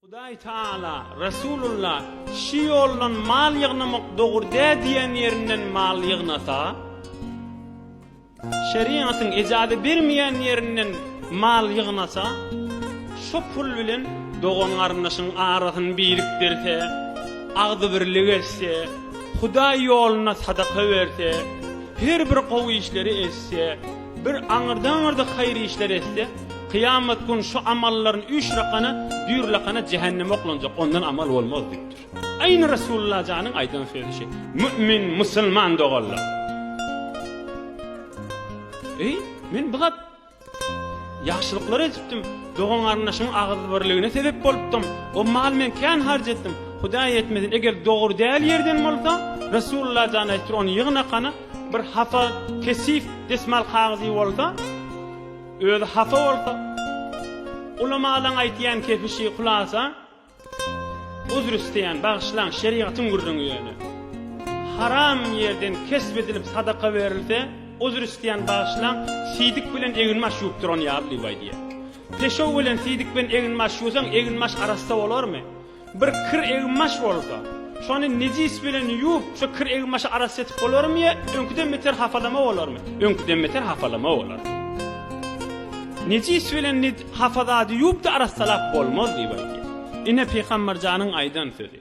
Hudaý Taala, Resulullah, Şu ýoldan mal ýygnamak dogry dä diýen ýerinden mal ýygnasa, şerigatyň ejazy bermeýän ýerinden mal ýygnasa, şo pul bilen dogan-garyndaşyň arasyny birikdirse, agzybirlik etse, Hudaý ýoluna sadaka berse, her bir gowy işleri etse, Bir aňyrda-aňyrda haýyr işler etse, kyýamat gün şu amallaryny üýşrakana, düýrlakana jähenneme oklanjak, ondan amal bolmaz diýipdir. Aýny Resulullah janyň aýdan sözi şeý. Mümin, musulman doganlar! Eý, men bu zat ýagşylyklar edipdim, dogan-garyndaşyň agyzybirligine sebep bolupdym, o maly men kän harç etdim, Hudaý etmesin, eger dogry däl ýerden bolsa, Resulullah jany aýdypdyr, ony ýygnakana, Bir hasa kesif desmal kagyzy bolsa, özi hasa bolsa, ulamalaň aýtýan kepişi hulasa, Uzr isleýän, bagyşlaň, şerigatyň gürrüňi ýöne. Haram ýerden kesp edilip sadaka berilse, Uzr isleýän, bagyşlaň, siýdik bilen eginbaş ýuwup duran ýaly diýip aýdýar. Peşew bilen siýdik bilen eginbaş ýuwsaň, eginbaş arassa bolarmy? Bir kir egin-maş bolsa, şony nejis bilen ýuwup, şo kir egin-maşy arassa etip bolarmy ýa öňküden beter hapalama bolarmy? Öňküden beter hapalama bolar. Nejis bilen hafa zady ýuwup-da arassalap bolmaz diýip aýdýar. Ine, Pygamber janyň aýdan sözi.